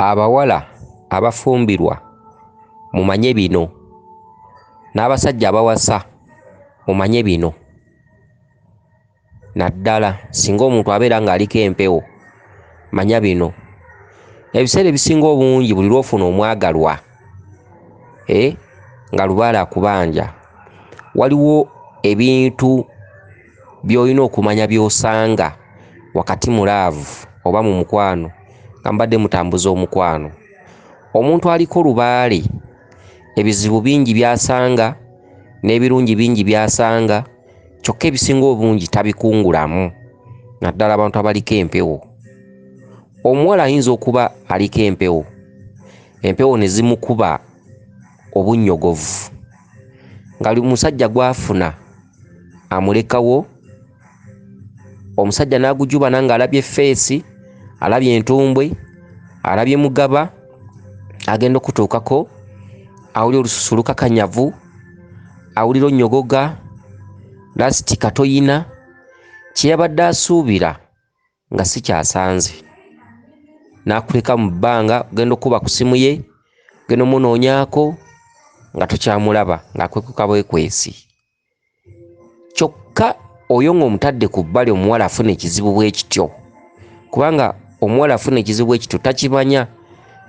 Abawala abafumbirwa mumanye bino, n'abasajja abawasa mumanye bino naddala singa omuntu abeera ng'aliko empewo manya bino. Ebiseera ebisinga obungi buli lw'ofuna omwagalwa eh nga lubaale akubanja waliwo ebintu. by'olina okumanya by'osanga wakati mu laavu oba mu mukwano nga mubadde mutambuza omukwano. Omuntu aliko lubaale ebizibu bingi by'asanga n'ebirungi bingi by'asanga kyokka ebisinga obungi tabikungulamu naddala abantu abaliko empewo. Omuwala ayinza okuba aliko empewo, empewo ne zimukuba obunnyogovu nga musajja gw'afuna amulekawo omusajja n'agujubana ng'alabye feesi alabye entumbwe alabye mugaba agenda okutuukako awulira olususu lukakanyavu awulira onnyogoga lasiti katoyina kye yabadde asuubira nga sikyasanze nakuleka mu bbanga ogenda okukuba ku simu ye ogenda omunoonyako nga tokyamulaba ng'akwekuka bwekwesi kyokka oyo ng'omutadde ku bbali omuwala afuna ekizibu bwe kityo kubanga omuwala afuna ekizibu bwe kityo takimanya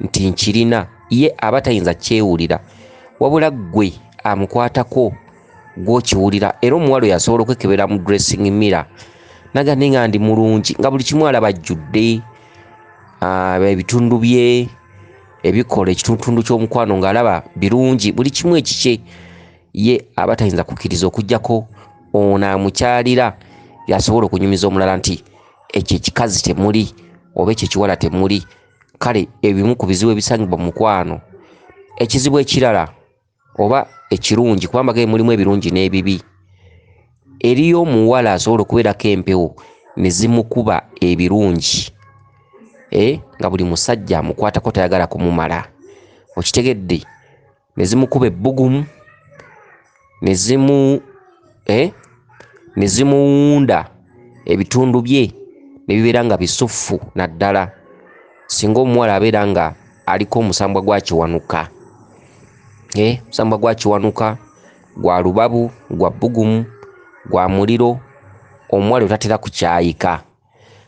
nti nkirina ye aba tayinza kyewulira wabula ggwe amukwatako gwokiwulira era omuwala oyo asobola okwekebera mu dressing mirror naga ne nga ndi mulungi nga buli kimu alaba ajjudde ah, ebitundu bye ebikola ekitundu ky'omukwano ng'alaba birungi buli kimu ekikye ye aba tayinza kukkiriza okugyako ono amukyalira yasobola okunyumiza omulala nti ekyo ekikazi temuli oba ekyo ekiwala temuli kale ebimu ku bizibu ebisangibwa mu mukwano ekizibu ekirala oba ekirungi kuba amaka mulimu ebirungi n'ebibi eriyo omuwala asobola okubeerako empewo ne zimukuba ebirungi eh, nga buli musajja amukwatako tayagala kumumala okitegedde ne zimukuba ebbugumu ne zimu eh? ne zimuwunda ebitundu bye ne bibeera nga bisuffu naddala singa omuwala abeera nga aliko omusambwa gwa kiwanuka eh? omusambwa gwa kiwanuka gwa lubabu gwa bbugumu gwa muliro omuwala otatera kukyayika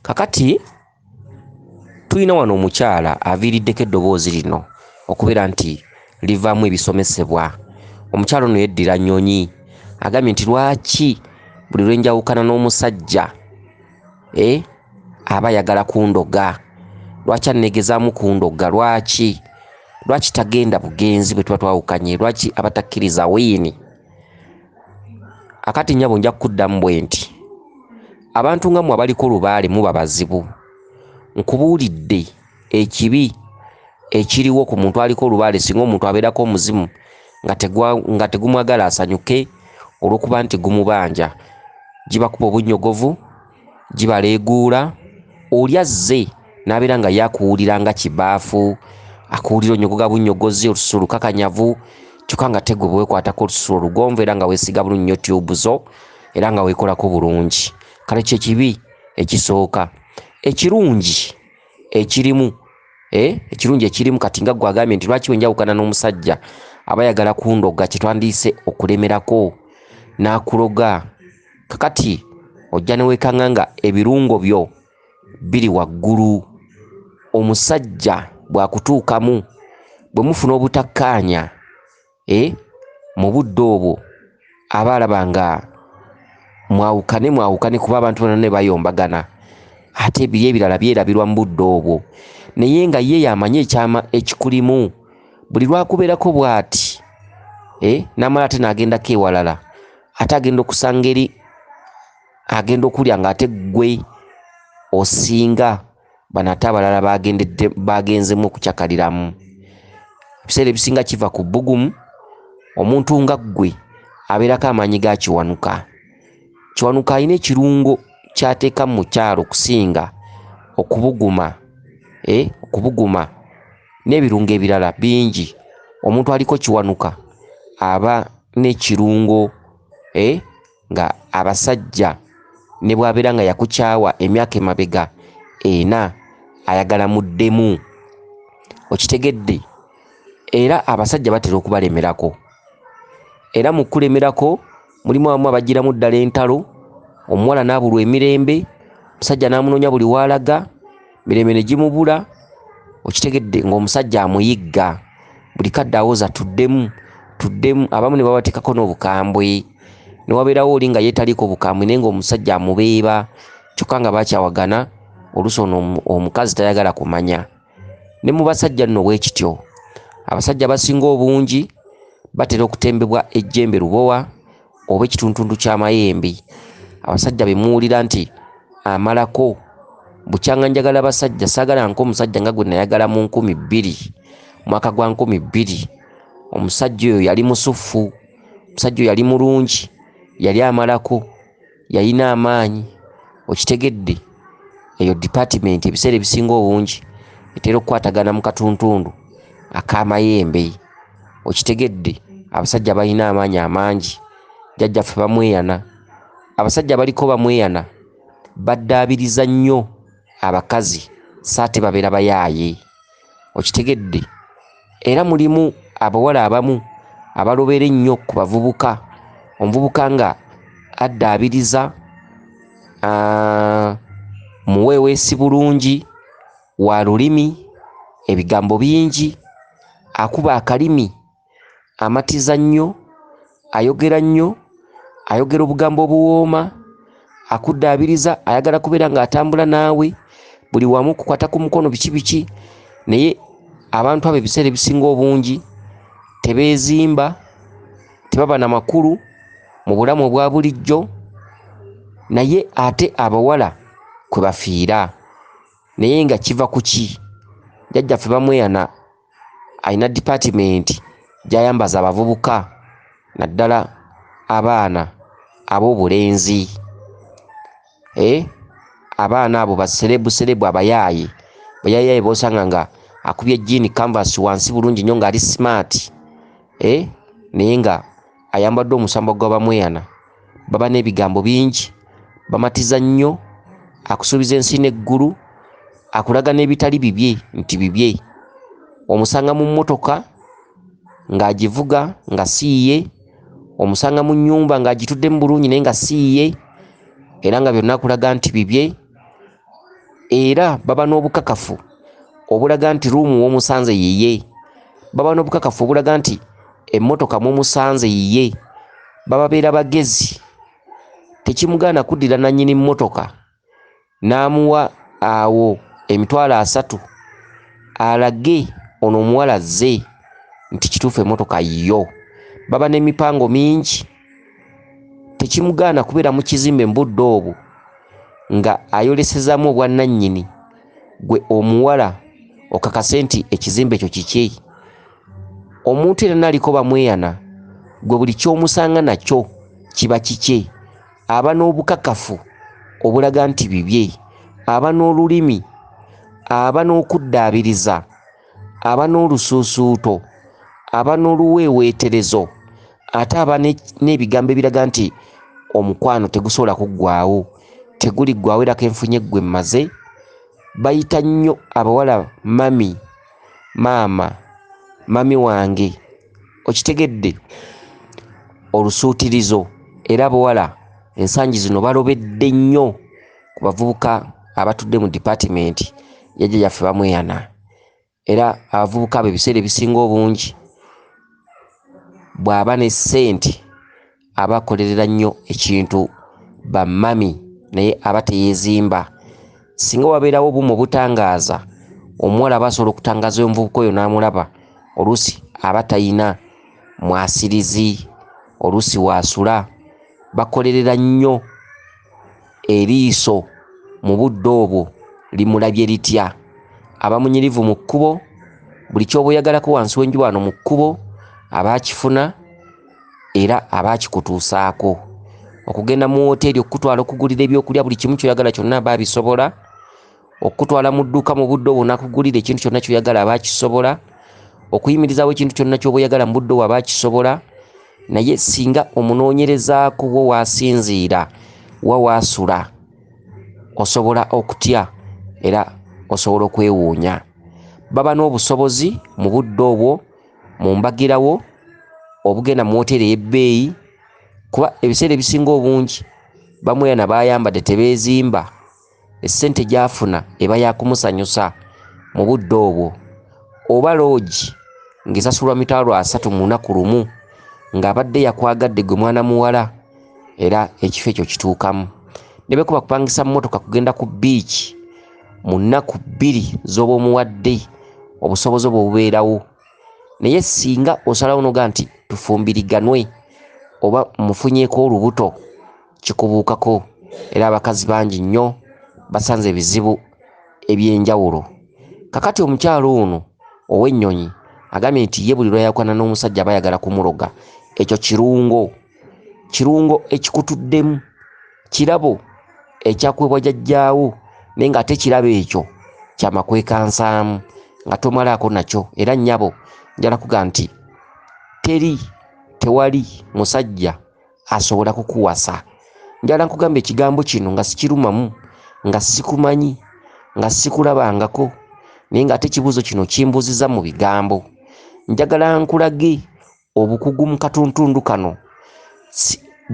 Kakati tulina wano omukyala aviiriddeko eddoboozi lino okubeera nti livaamu ebisomesebwa. Omukyala ono yeddira Nyonyi agambye nti lwaki buli lwe njawukana n'omusajja e aba ayagala kundoga, lwaki anneegezaamu kundoga, lwaki lwaki tagenda bugenzi bwe tuba twawukanye, lwaki aba takkiriza wiini. Akati nnyabo nja kukuddamu bwe nti. abantu nga mwe abaliko lubaale muba bazibu nkubuulidde ekibi ekiriwo ku muntu aliko olubaale singa omuntu abeerako omuzimu nga tegumwagala asanyuke olw'okuba nti gumubanja gibakuba obunnyogovu gibaleeguula oli azze n'abeera nga yakuwulira nga kibaafu akuwulira onyogoga bunnyogozi olususu olukakanyavu kyokka nga tegwe bwekwatako olususu olugonvu era nga weesiga bulunnyo tyubu zo era nga wekolako bulungi kale kyekibi ekisooka ekirungi ekirimu eh, ekirungi ekirimu kati nga gwe agambye nti lwaki wenjawukana n'omusajja aba yagala kundoga kyetwandiise okulemerako n'akuloga kakati ojja newekanga nga ebirungo byo biri waggulu omusajja bwakutuukamu bwe mufuna obutakkaanya Eh, mu budde obwo aba alaba nga mwawukane mwawukane kuba abantu bona ne bayombagana ate ebiri ebirala byerabirwa mu budde obwo naye nga ye yamanyi ekyama ekikulimu buli lwakubeerako bw'ati eh, namala ate nagendako ewalala ate agenda okusanga eri agenda okulya nga ate ggwe osinga Bano ate abalala baagenzemu okucakaliramu. Ebiseera ebisinga kiva ku bbugumu. Omuntu nga ggwe abeerako amaanyi ga Kiwanuka. Kiwanuka alina ekirungo ky'ateeka mu mukyala okusinga okubuguma, eh, okubuguma n'ebirungo ebirala bingi. Omuntu aliko Kiwanuka aba n'ekirungo, eh, nga abasajja ne bw'abeera nga yakukyawa emyaka emabega ena ayagala muddemu okitegedde era abasajja batera okubalemerako era mu kulemerako mulimu abamu abagiramu ddala entalo omuwala n'abulwa emirembe omusajja n'amunoonya buli waalaga mirembe ne gimubula okitegedde ng'omusajja amuyigga buli kadde awoza tuddemu tuddemu abamu ne babateekako n'obukambwe ne wabeerawo oli nga yeetaliiko obukambwe naye ng'omusajja amubeeba kyokka nga bakyawagana oluusi ono omukazi tayagala kumanya ne mu basajja nno bwe kityo abasajja abasinga obungi batera okutembebwa ejjembe lubowa oba ekituntundu ky'amayembe abasajja be muwulira nti amalako bukyanga njagala basajja saagala nka omusajja nga gwe nayagala mu nkumi bbiri mwaka gwa nkumi bbiri omusajja oyo yali musuffu omusajja oyo yali mulungi yali amalako yalina amaanyi okitegedde eyo dipatimenti ebiseera ebisinga obungi etera okukwatagana mu katuntundu ak'amayembe okitegedde abasajja balina amaanyi amangi jajjaffe bamweyana abasajja baliko bamweyana baddaabiriza nnyo abakazi saate babeera bayaaye okitegedde era mulimu abawala abamu abalobera ennyo ku bavubuka omuvubuka nga addaabiriza muweeweesi bulungi wa lulimi, ebigambo bingi, akuba akalimi, amatiza nnyo, ayogera nnyo, ayogera obugambo obuwooma, akuddaabiriza, ayagala kubeera ng'atambula naawe buli wamu, kukwata ku mukono, biki biki, naye abantu abo ebiseera ebisinga obungi tebeezimba, tebaba na makulu mu bulamu obwa bulijjo, naye ate abawala kwe bafiira. naye nga kiva kuki jajjaffe bamweyana alina department gyayambaza abavubuka naddala abaana ab'obulenzi e abaana abo baserebu serebu abayaaye bayayaaye bosanga nga akubye jiini canvas wansi bulungi nnyo ng'ali smart e naye nga ayambadde omusambwa gwa bamweyana baba n'ebigambo bingi bamatiza nnyo akusuubiza ensi n'eggulu akulaga n'ebitali bibye nti bibye omusanga mu mmotoka ng'agivuga nga siiye omusanga mu nnyumba ng'agitudde mu bulungi naye nga siiye era nga byonna akulaga nti bibye era baba n'obukakafu obulaga nti ruumu w'omusanze yiye baba n'obukakafu obulaga nti emmotoka mumusanze yiye bababeera bagezi tekimugaana kuddira nannyini mmotoka n'amuwa awo emitwalo asatu alage ono omuwala zze nti kituufu emmotoka yiyo baba n'emipango mingi tekimugaana kubeera mu kizimbe mu budde obwo nga ayolesezamu obwannannyini gwe omuwala okakase nti ekizimbe ekyo kikye omuntu era naaliko bamweyana gwe buli kyomusanga nakyo kiba kikye aba n'obukakafu obulaga nti bibye aba n'olulimi aba n'okuddaabiriza aba n'olusuusuuto aba n'oluweeweeterezo ate aba n'ebigambo ebiraga nti omukwano tegusobola kuggwawo teguliggwawo era kenfunye ggwe mmaze bayita nnyo abawala mami maama mami wange okitegedde olusuutirizo era abawala ensangi zino balobedde nnyo ku bavubuka abatudde mu dipatimenti yajja yaffe bamweyana era abavubuka abo ebiseera ebisinga obungi bw'aba ne ssente aba akolerera nnyo ekintu bamami naye aba teyeezimba singa wabeerawo obumu obutangaaza omuwala aba asobola okutangaaza oyo omuvubuka oyo n'amulaba oluusi aba talina mwasirizi oluusi waasula bakolerera nnyo Eriiso mu budde obwo limulabye litya? Aba munyirivu mu kkubo, buli ky'oba oyagalako wansi w'enjuba wano mu kkubo aba akifuna era aba akikutuusaako. Okugenda mu wooteeri okukutwala okugulira ebyokulya buli kimu ky'oyagala kyonna aba abisobola. okukutwala mu dduuka mu budde obwo nakugulira ekintu kyonna kyoyagala aba akisobola okuyimirizawo ekintu kyonna kyoba oyagala mu budde obwo aba akisobola naye singa omunoonyerezaako wo waasinziira wa waasula osobola okutya era osobola okwewuunya baba n'obusobozi mu budde obwo mu mbagirawo obugenda mu woteeri ey'ebbeeyi kuba ebiseera ebisinga obungi bamweyana bayambadde tebeezimba essente gyafuna eba yakumusanyusa mu budde obwo oba loogi ng'esasulwa mitwalo asatu mu lunaku lumu ng'abadde yakwagadde gwe mwana muwala era ekifo ekyo kituukamu ne bwekuba kupangisa mmotoka kugenda ku bbiici mu nnaku bbiri z'oba omuwadde obusobozi obwo bubeerawo naye singa osalawo noga nti tufumbiriganwe oba mufunyeko olubuto kikubuukako era abakazi bangi nnyo basanze ebizibu eby'enjawulo. Kakati omukyalo ono ow'ennyonyi agambye nti ye buli lwayawukana n'omusajja aba ayagala kumuloga. Ekyo kirungo, kirungo ekikutuddemu, kirabo ekyakuweebwa jajjaawo naye ng'ate kirabo ekyo kyamakwekansaamu nga tomalaako nakyo era nnyabo njala kuga nti teri tewali musajja asobola kukuwasa njala nkugamba ekigambo kino nga sikirumamu nga sikumanyi nga sikulabangako naye ng'ate ekibuuzo kino kimbuuziza mu bigambo njagala nkulage obukugu mu katuntundu kano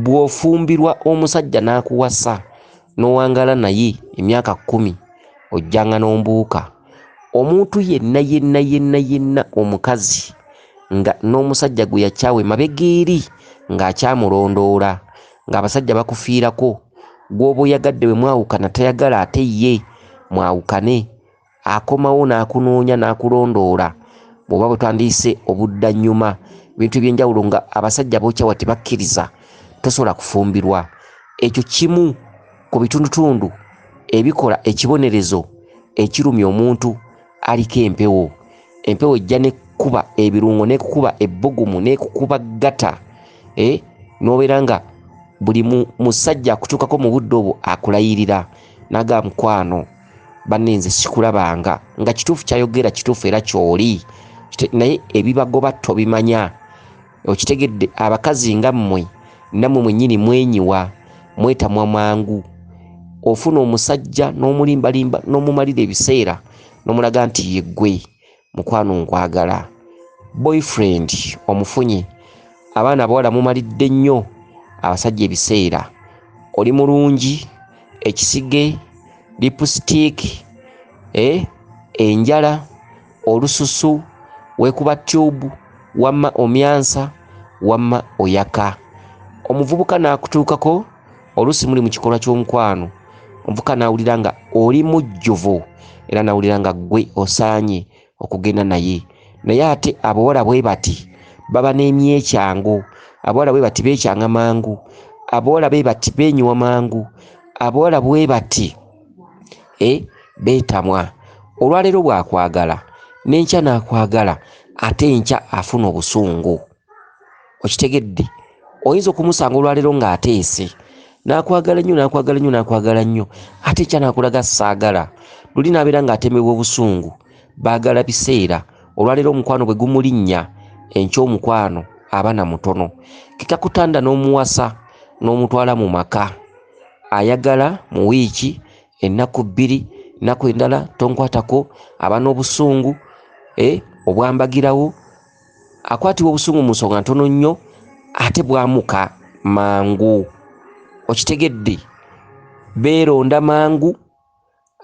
bw'ofumbirwa omusajja n'akuwasa n'owangala naye emyaka kkumi ojjanga n'ombuuka omuntu yenna yenna yenna yenna omukazi nga n'omusajja gwe yakyawa emabega eri ng'akyamulondoola ng'abasajja bakufiirako gw'oba oyagadde bwe mwawukana tayagala ate ye mwawukane akomawo n'akunoonya n'akulondoola bw'oba bwe twandiyise obuddannyuma ebintu eby'enjawulo nga abasajja b'okyawa tebakkiriza tosobola kufumbirwa ekyo kimu ku bitundutundu ebikola ekibonerezo ekirumya omuntu aliko empewo empewo ejja nekukuba ebirungo nekukuba ebbugumu nekukuba gata eh? nobeera nga buli musajja akutuukako mu budde obwo akulayirira naga mukwano banne nze sikulabanga nga kituufu kyayogera kituufu era kyoli naye ebibagoba tobimanya okitegedde abakazi nga mmwe nammwe mwennyini mwenyiwa mwetamwa mangu ofuna omusajja n'omulimbalimba n'omumalira ebiseera n'omulaga nti yeggwe mukwano nkwagala boyfriend omufunye abaana abawala mumalidde nnyo abasajja ebiseera oli mulungi ekisige lipusitiiki eh, enjala olususu wekuba tube wamma omyansa wamma oyaka omuvubuka nakutuukako oluusi muli mu kikolwa ky'omukwano omuvubuka nawulira nga oli mujjuvu era nawulira nga ggwe osaanye okugenda naye naye ate abawala bwe bati baba n'emyekyango abawala bwe bati beekyanga mangu abawala bwe bati beenyiwa mangu abawala bwe bati eh, beetamwa olwaleero bwakwagala n'enkya n'akwagala ate enkya afuna obusungu okitegedde oyinza okumusanga olwaleero ng'ateese n'akwagala nnyo n'akwagala nnyo n'akwagala nnyo ate enkya n'akulaga saagala luli n'abeera ng'atemebwa obusungu baagala biseera olwaleero omukwano bwe gumulinnya enkya omukwano abana mutono kekakutanda n'omuwasa n'omutwala mu maka ayagala mu wiiki ennaku bbiri nnaku endala tonkwatako aba n'obusungu eh, obwambagirawo akwatibwa obusungu mu nsonga ntono nnyo ate bwamuka mangu okitegedde beeronda mangu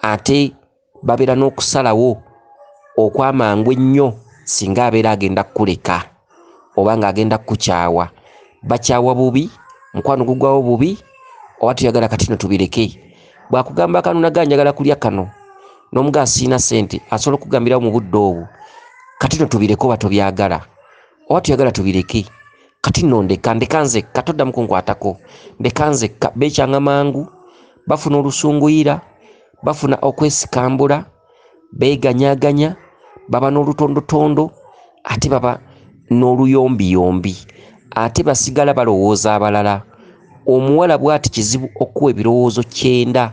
ate babeera n'okusalawo okwamangu ennyo singa abeera agenda kukuleka oba ng'agenda kukukyawa bakyawa bubi mukwano gugwawo bubi oba tuyagala kati no tubireke bwakugamba akanonaga njagala kulya kano n'omuga asiina sente asobola okugambirawo mu budde obwo kati no tubireke oba tobyagala oba tuyagala tubireke kati nondeka ndeka nzekka toddamu kunkwatako ndeka nzekka bekyanga mangu bafuna olusunguyira bafuna okwesikambula beeganyaganya baba n'olutondotondo ate baba n'oluyombiyombi ate basigala balowooza abalala omuwala bwati kizibu okuwa ebirowoozo kyenda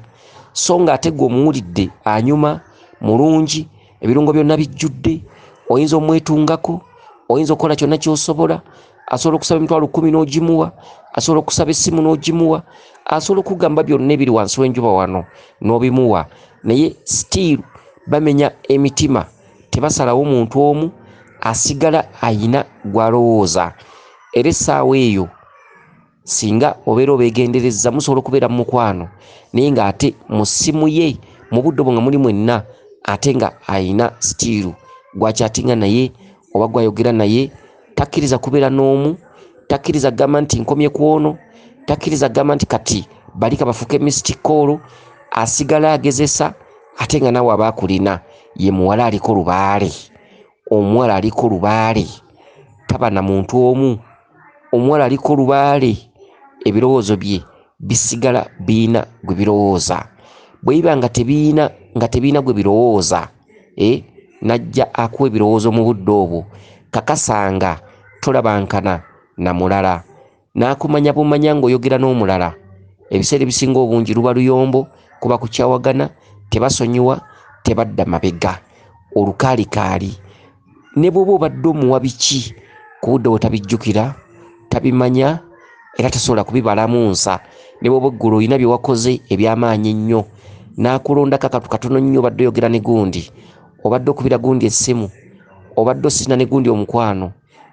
so ng'ate gwe omuwulidde anyuma mulungi ebirungo byonna bijjudde oyinza omwetungako oyinza okukola kyonna kyosobola asobola okusaba emitwalo kumi n'ogimuwa asobola okusaba essimu n'ogimuwa asobola okugamba byonna ebiri wansi w'enjuba wano n'obimuwa naye stiiru bamenya emitima tebasalawo muntu omu asigala ayina gw'alowooza era essaawa eyo singa obeera obegenderezza musobola okubeera mu mukwano naye nga ate mu ssimu ye mu budde obwo nga muli mwenna ate nga alina sitiiru gwakyatinga naye oba gwayogera naye takkiriza kubeera n'omu takkiriza kugamba nti nkomye ku ono takkiriza kugamba nti kati bali kabafuuke misitikoolo asigala agezesa ate nga nawe aba akulina ye muwala aliko lubaale omuwala aliko lubaale taba na muntu omu omuwala aliko lubaale ebirowoozo bye bisigala biina gwe birowooza bwe biba nga tebiina nga tebiina gwe birowooza e eh, najja akuwa ebirowoozo mu budde obwo kakasanga tolabankana na mulala n'akumanya bumanya ng'oyogera n'omulala ebiseera ebisinga obungi luba luyombo kuba kukyawagana tebasonyiwa tebadda mabega olukaalikaali ne bw'oba obadde omuwa biki ku budde bwe tabijjukira tabimanya era tasobola kubibalamu nsa ne bw'oba eggulu olina bye wakoze eby'amaanyi ennyo n'akulondako akatu katono nnyo obadde oyogera ne gundi obadde okubira gundi essimu obadde osina ne gundi omukwano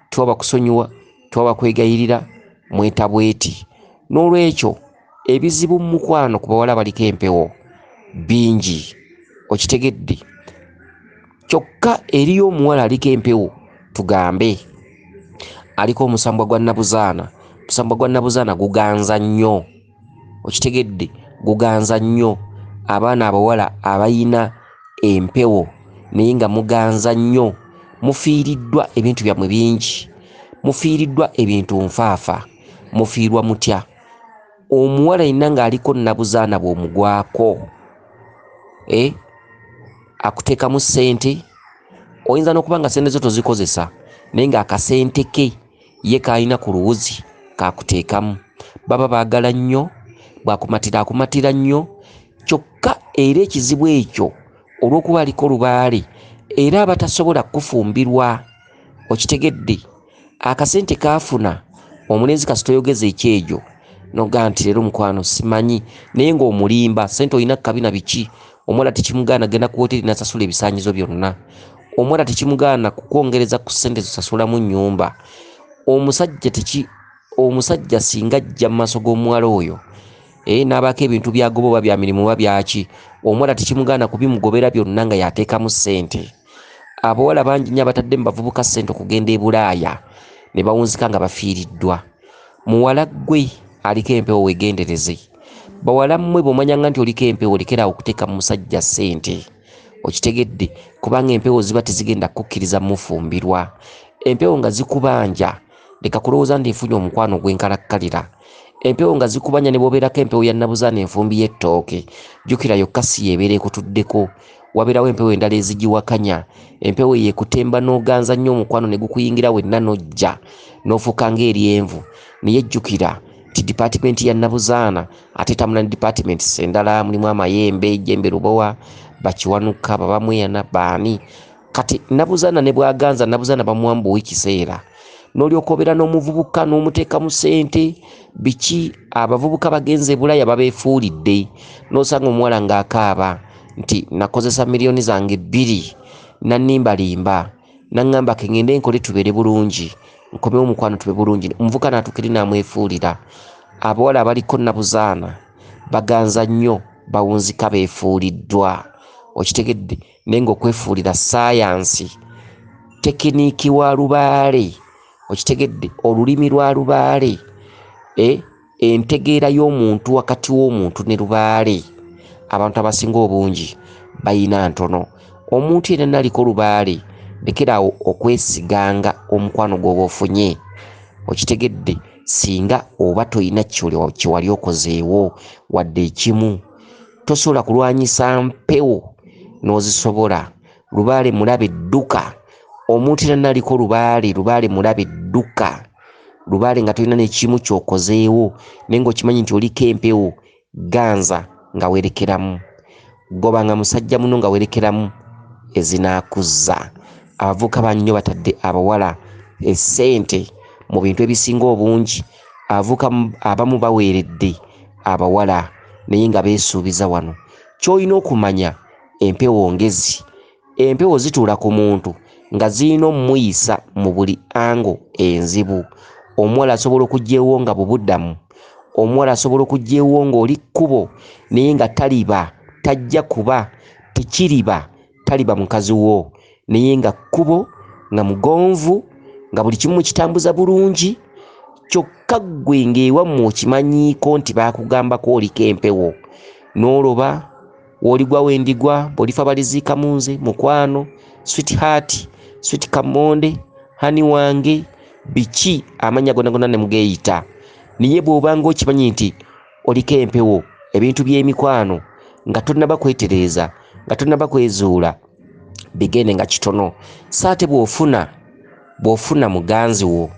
twaba kusonyiwa twaba kwegayirira mweta bweti n'olwekyo ebizibu mu mukwano ku bawala baliko empewo bingi okitegedde kyokka eriyo omuwala aliko empewo tugambe aliko omusambwa gwa nabuzaana omusambwa gwa nabuzaana guganza nnyo okitegedde guganza nnyo abaana abawala abayina empewo naye nga muganza nnyo mufiiriddwa ebintu byammwe bingi mufiiriddwa ebintu nfaafa mufiirwa mutya omuwala yenna ng'aliko nnabuzaana bw'omugwako e akuteekamu ssente oyinza n'okuba nga ssente zo tozikozesa naye ng'akasente ke ye k'alina ku luwuzi k'akuteekamu. Baba baagala nnyo, bw'akumatira akumatira nnyo kyokka era ekizibu ekyo olw'okuba aliko lubaale era aba tasobola kukufumbirwa, okitegedde? Akasente k'afuna omulenzi kasita oyogeza ekyejo n'ogamba nti leero mukwano simanyi naye ng'omulimba, ssente olina kkabi na biki. omuwala tekimugaana genda ku woteri nasasula ebisanyizo byonna omuwala tekimugaana kukwongereza ku sente zosasulamu nyumba omusajja teki omusajja singa ajja mu maaso g'omuwala oyo ee eh, n'abaako ebintu byagoba oba bya mirimu oba byaki omuwala tekimugaana kubimugobera byonna nga yateekamu ssente abawala bangi nyo abatadde mu bavubuka ssente okugenda ebulaaya ne bawunzika nga bafiiriddwa muwala ggwe aliko empewo wegendereze bawala mmwe bw'omanyanga nti oliko empewo lekera okuteeka mu musajja ssente okitegedde kubanga empewo ziba tezigenda kukukkiriza mufumbirwa empewo nga zikubanja leka kulowooza nti nfunye omukwano gwenkalakkalira empewo nga zikubanja ne bwobeerako empewo ya nabuzaana enfumbi y'ettooke jjukira yokka si yeebeera ekutuddeko wabeerawo empewo endala ezigiwakanya empewo eyo ekutemba n'oganza nnyo omukwano ne gukuyingira wenna n'ojja n'ofuuka ng'eryenvu naye jjukira nti dipatimenti ya nabuzaana ate tamula ne dipatiments endala mulimu amayembe jembe lubowa bakiwanuka babamweyana baani kati nabuzaana ne bwaganza nabuzaana bamuwa mbuwa ekiseera n'olyoka obeera n'omuvubuka n'omuteeka mu sente biki abavubuka bagenze bulaya babeefuulidde n'osanga omuwala ng'akaaba nti nakozesa miliyoni zange bbiri nannimbalimba nangamba ke ngende nkole tubere bulungi nkome omukwano tube bulungi omuvuka natukiri namwefuulira abawala abaliko nabuzaana baganza nnyo bawunzika befuuliddwa okitegedde naye nga okwefuulira sayansi tekiniiki wa lubaale okitegedde olulimi lwa lubaale e entegeera y'omuntu wakati w'omuntu ne lubaale abantu abasinga obungi bayina ntono omuntu yena naliko lubaale lekeraawo okwesiganga omukwano gwoba ofunye okitegedde singa oba tolina kyewali okozeewo wadde ekimu tosobola kulwanyisa mpewo n'ozisobola lubaale mulabe dduka omuntu era naliko lubaale lubaale mulabe dduka lubaale nga tolina nekimu kyokozeewo naye ngaokimanyi nti oliko empewo ganza nga werekeramu goba nga musajja muno nga werekeramu ezinakuzza abavuka bannyo batadde abawala esente mu bintu ebisinga obungi avuka abamu baweeredde abawala naye nga beesuubiza wano kyolina okumanya Empewo ngezi. Empewo zituula ku muntu nga zirina omuyisa mu buli angle enzibu. Omuwala asobola okujja ewonga bubudamu. Omuwala asobola okujja ewonga oli kkubo naye nga taliba, tajja kuba, tekiriba, taliba mukazi wo naye nga kkubo, nga mugonvu, nga buli kimu mukitambuza bulungi kyokka ggwe ng'ewammwe okimanyiiko nti baakugambako oliko empewo n'oloba woligwa wendigwa bolifa baliziika munze mukwano sweet heart sweet kamonde hani wange biki amanya gona gona nemugeyita niye bwobanga okimanyi nti oliko empewo ebintu byemikwano nga tonaba kwetereeza nga tonaba kwezuula bigende nga kitono saate bwofuna bwofuna muganzi wo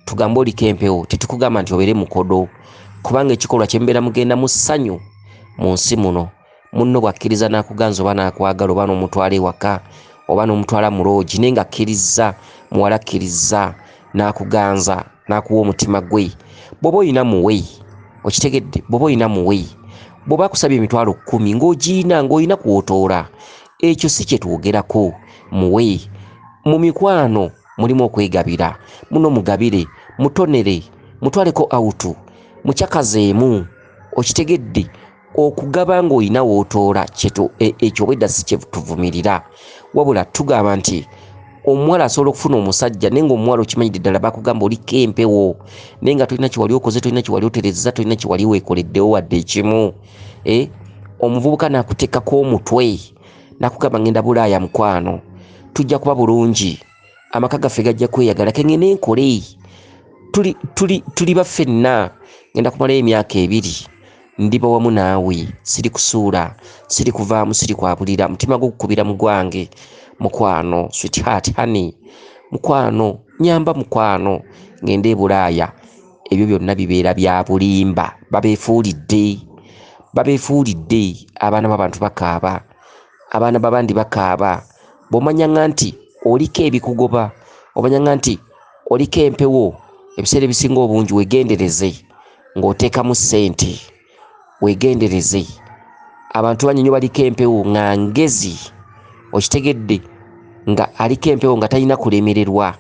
tugambe oliko empewo tetukugamba nti obeere mukodo kubanga ekikolwa kyemubeera mugenda mu ssanyu mu nsi muno munno bw'akkiriza n'akuganza oba n'akwagala oba n'omutwala ewaka oba n'omutwala mu loogi naye ng'akkirizza muwala akkirizza n'akuganza n'akuwa omutima gwe bw'oba olina muwe okitegedde bw'oba olina muwe bw'oba akusabye emitwalo kkumi ng'ogiina ng'olina kwotoola ekyo si kye twogerako muwe mu mikwano mulimu okwegabira muno mugabire mutonere mutwaleko awutu mukyakazeemu okitegedde okugaba ng'olina wootoola e, ekyo obwedda si kyetuvumirira wabula tugamba nti omuwala asobola okufuna omusajja naye ngaomuwala okimanyidde ddala bakugamba oliko empewo naye nga tolina kyewali okoze tolina kyewali oterezeza tolina kyewali weekoleddewo wadde ekimu e, omuvubuka nakuteekako omutwe nakugamba ngenda bulaaya mukwano tujja kuba bulungi amaka gaffe gajja kweyagala kengende enkole tuli, tuli, tuli baffenna ngenda kumalayo emyaka ebiri ndiba wamu naawe siri kusuula siri kuvaamu siri kwabulira mutima gwokukubira mu gwange mukwano sweetheart honey mukwano nyamba mukwano ngende ebulaaya ebyo byonna bibeera bya bulimba babeefuulidde babeefuulidde abaana b'abantu bakaaba abaana babandi bakaaba bw'omanyanga nti oliko ebikugoba omanyanga nti oliko empewo ebiseera ebisinga obungi wegendereze ng'oteekamu ssente wegendereze abantu bangi nyo baliko empewo nga ngezi okitegedde nga aliko empewo nga talina kulemererwa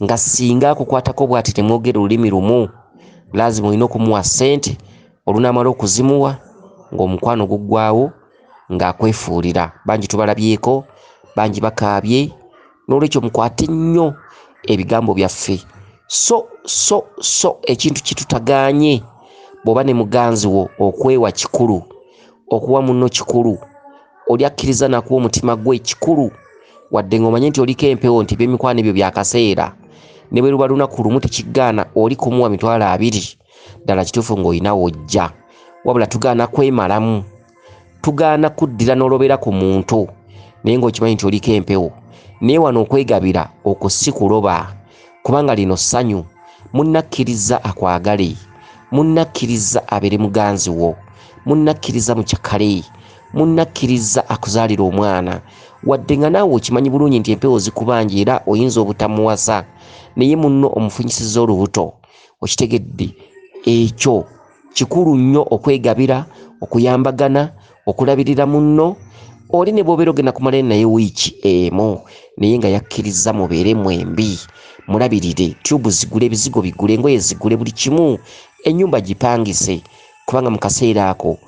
nga singa akukwatako bwati temwogera olulimi lumu lazima olina okumuwa sente olunamala okuzimuwa ngaomukwano guggwawo ngaakwefuulira bangi tubalabyeko bangi bakaabye n'olwekyo mukwate nnyo ebigambo byaffe so so so ekintu kitutagaanye bw'oba ne muganzi wo okwewa kikulu okuwa munno kikulu oli akkiriza nakuwa omutima gwe kikulu wadde ng'omanye nti oliko empewo nti ebyemikwano ebyo byakaseera ne bwe luba lunaku lumu tekigaana oli kumuwa mitwalo abiri ddala kituufu ng'olina wojja wabula tugaana kwemalamu tugaana kuddira n'olobera ku muntu naye ng'okimanyi nti oliko empewo naye wano okwegabira okwo si kuloba kubanga lino ssanyu munnakkiriza akwagale munnakkiriza abeere muganzi wo munnakkiriza mucakale munnakkiriza akuzaalira omwana wadde nga naawe okimanyi bulungi nti empewo zikubanja era oyinza obutamuwasa naye munno omufunyisiza olubuto okitegedde ekyo kikulu nnyo okwegabira okuyambagana okulabirira munno oli ne bwobeera ogenda kumalayo naye wiiki emu naye nga yakkirizza mubeere mwembi mulabirire tyubu zigule ebizigo bigule engoye zigule buli kimu ennyumba gipangise kubanga mu kaseera ako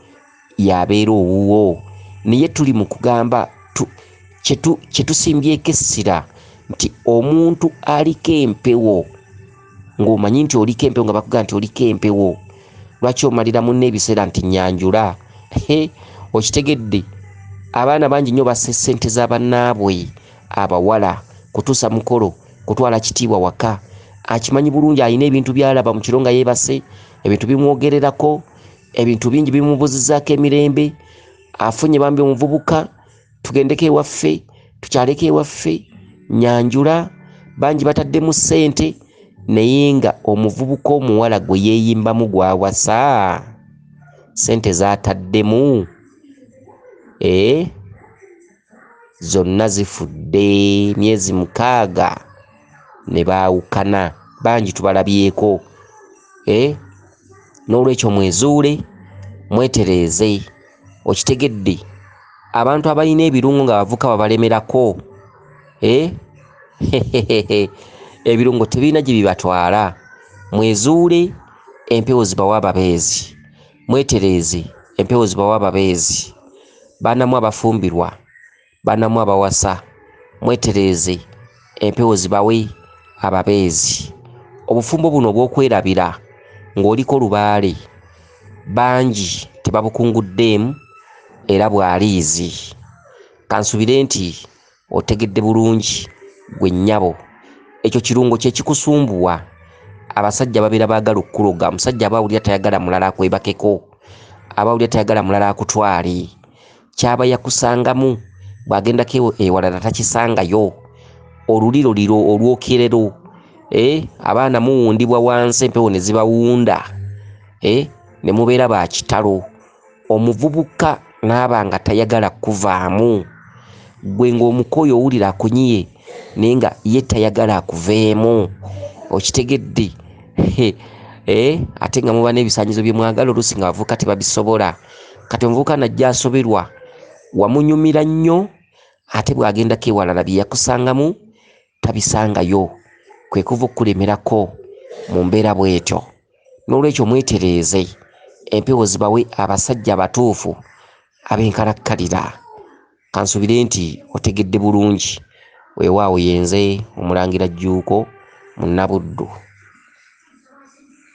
y'abeera owuwo naye tuli mu kugamba kye tusimbyeko essira nti omuntu aliko empewo ng'omanyi nti oliko empewo nga bakugamba nti oliko empewo lwaki omalira munne ebiseera nti nyanjula okitegedde abaana bangi nnyo bassa essente za bannaabwe abawala kutuusa mukolo kutwala kitiibwa waka akimanyi bulungi alina ebintu byalaba mu kiro nga yeebase ebintu bimwogererako ebintu bingi bimubuzizaako emirembe afunye bambi omuvubuka tugendeko ewaffe tukyaleko ewaffe nyanjula bangi bataddemu ssente naye nga omuvubuka omuwala gwe yeeyimbamu gwawasa ssente zataddemu ee eh? zonna zifudde myezi mukaaga ne baawukana bangi tubalabyeko eh? n'olwekyo mwezuule mwetereeze okitegedde abantu abalina ebirungo nga bavuka babalemerako eh? ebirungo tebirina gye bibatwala mwezuule empewo zibawa ababeezi Mwetereeze empewo zibawa ababeezi, baana mmwe abafumbirwa, baana mmwe abawasa, mwetereeze empewo zibawe ababeezi. Obufumbo buno obw'okwerabira ng'oliko lubaale bangi tebabukunguddeemu era bwa liizi. Kansubire nti. Otegedde bulungi gwe nyabo. Ekyo kirungo kyekikusumbuwa abasajja babera bagala okukuloga musajja aba awulira tayagala mulala akwebakeko aba awulira tayagala mulala akutwale kyaba yakusangamu bwagendako ewo- ewalala takisangayo oluliro liro olwokerero eh, abaana muwundibwa wansi empewo nezibawunda eh, nemubeera ba kitalo omuvubuka n'aba nga tayagala kukuvaamu, ggwe ng'omukooye owulira akunyiye naye nga ye tayagala akuveemu, okitegedde? He, eh, ate nga muba n'ebisaanyizo bye mwagala oluusi ng'abavubuka tebabisobola. Kati omuvubuka n'ajja asoberwa, wamunyumira nnyo ate bw'agendako ewalala bye yakusangamu tabisangayo kwe kuva okukulemerako mu mbeera bw'etyo n'olwekyo mwetereeze empewo zibawe abasajja abatuufu ab'enkalakkalira kansubire nti otegedde bulungi weewaawo yenze omulangira jjuuko munnabuddu